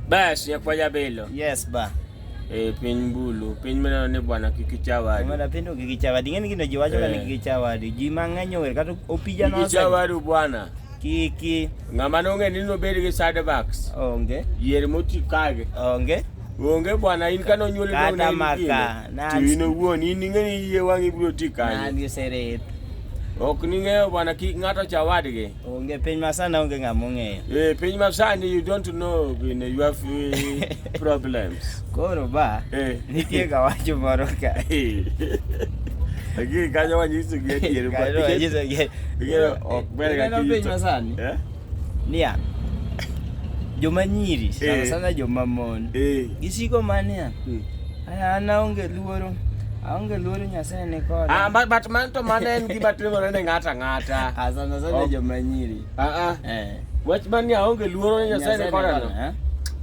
Bas ya kwaja belo. Yes ba. E piny bulu, piny meneno ni bwana kik ichawadi. Bwana piny kik ichawadi. Ng'eni gino ji wacho ni eh. kik ichawadi. Ji mang'eny ower kata opija no. Kik ichawadi bwana. Kiki. Ng'ama nong'e ni nobed gi side backs. Onge. Yier moti kage. Onge. Onge bwana in kano nyuol dong na maka. To in owuon in ing'eni yie wang'i biro ti kanye. Nani oseret. Ok ning'eyo bwana kik ng'ato chawadgi. Onge piny masani onge ng'ama ong'eyo. Eh, piny masani you don't know in you have eh, problems. Koro ba eh. nitie ga wacho moro ka. Eh. Lakini kanyo wanyiso gi adier ba. Kanyo wanyiso gi. Ngero ok ber ga kiyo. Piny masani. Eh? Nia. Joma nyiri sana sana joma mon. Gisiko mania. Hmm. An aonge luoro. Aonge luoro Nyasaye ni koda. Ah, but, but man to man en gima timore ne ng'ato ang'ata. Ah, sana sana oh. joma nyiri. Ah, ah. Eh. Wach man ni aonge luoro ne Nyasaye ni koda no. Eh?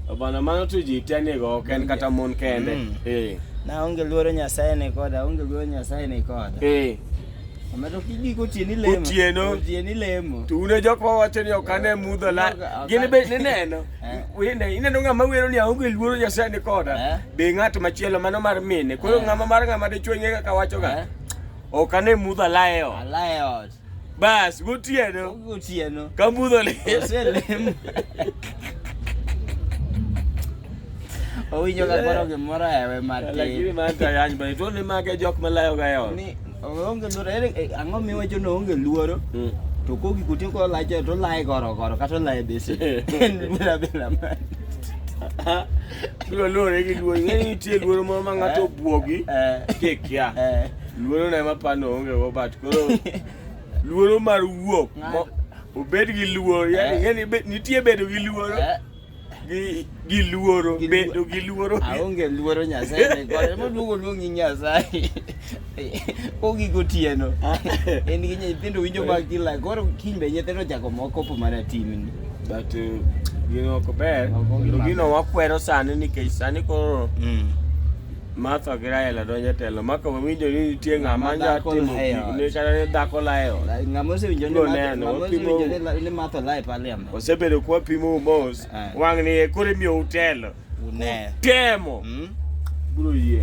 Oh, bana mano to ji te ni go ken kata mon kende. Mm. Eh. Na onge luoro Nyasaye ni koda, onge luoro Nyasaye ni koda. Eh. Omedo kidi kotieni lemo. Otieno. Otieni lemo. To une jok ma wacho ni ok ane mudho la. Gin be nineno. Eh. Wende ineno ng'ama wero ni aonge luoro Nyasaye ni koda. Eh. Be ng'at machielo mano mar mine. Koro eh. ng'ama mar ng'ama dichwo ing'e kaka wachoga. Eh. Ok ane mudho alaye ot. Alaye ot. Bas gotieno. Gotieno. Ka mudho le. Oselem. Owinjo ka koro gimoro ewe matin. Lakini manta yany bani to ni mage jok malayo ga e ot. Onge luoro, ere eh, ang'o miwacho ni onge luoro? Mm. To kogi kutin ko lache to lae goro goro kata lae bese. En luora bila man. Bilo luoro gi luoro, ng'e ni nitie luoro moro ma ng'ato eh. obwogi eh. kikia. Luoro na ema pano onge go but koro luoro mar wuok obed gi luoro, yani ng'e ni nitie bedo gi luoro. gi gi luoro Gi bedo luoro. gi luoro aonge luoro nyasaye ni kore moluongo luongi nyasaye ogi gotieno en gi nyithindo winjo mag kila koro kiny be nyithindo chako moko po mana timni but uh, gino ok ber Ok gima Kendo gino ber. wakwero sani nikech sani koro Martha gi Rael donjo e telo maka wawinjo ni nitie ng'ama Ng'ama nyalo dhako timo layo. gik ne kata ni dhako layo ng'ama osewinjo ni Go Martha- neno, ng'ama osewinjo wapimo- ni la- ni matho lae pale osebedo kwa pimo mos ah. wang' ni kore miyo utelo utemo hmm? bro yie